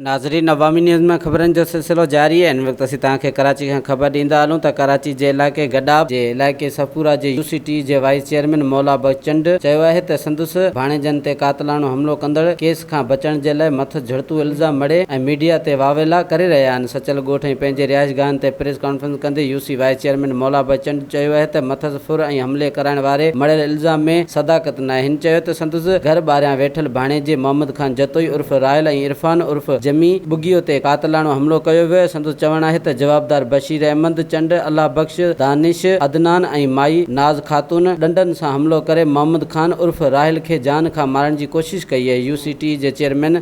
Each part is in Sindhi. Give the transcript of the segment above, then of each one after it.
ناظرين عوامي نيوز ۾ خبرن جو سلسلو جاري آهي ان وقت اسين توهان کي ڪراچي کان خبر ڏيندا هلون ته ڪراچي جي علائقي گڏاپ جي علائقي صفورا جي يو سي ٽي جي وائيس چيئرمين مولا بخش چنڊ چيو آهي ته سندس ڀاڻيجن تي قاتلاڻو حملو ڪندڙ ڪيس کان بچڻ جي لاء مٿس جھڙتو الزام مڙهي ۽ ميڊيا تي واويلا ڪري رهيا آهن سچل ڳوٺ ۽ پنهنجي رهائش گاهن تي پريس ڪانفرنس ڪندي U C vice chairman Maula Bakhsh چنڊ چيو اهي ته مٿس ڦر ۽ حملي ڪرائڻ واري مڙهيل الزام ۾ صداقت ناهي هن چيو ته سندس گهر ٻاهريان ويٺل ڀاڻيجي محمد خان جتوئي عرف راحل ۽ عرفان عرف جمي ٻگهيو تي قاتلاڻو حملو ڪيو ويو سندس چوڻ آهي ته جوابدار بشير احمد چنڊ الله بخش دانش عدنان ۽ مائي ناز خاتون ڏنڊن سان حملو ڪري محمد خان عرف راحل کي جان کان مارڻ جي ڪوشش ڪئي اهي يو سي ٽي جي چيئرمين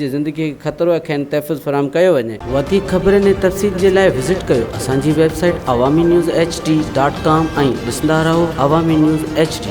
جي زندگي کي خطرو آهي کين تحفظ فراهم ڪيو وڃي. وڌيڪ خبرن ۽ تفصيل جي لاء وزٽ ڪيو اسان جي website Awami news H D dot com ۽ ڏسندا رهو عوامي نيوز ايڇ ڊي.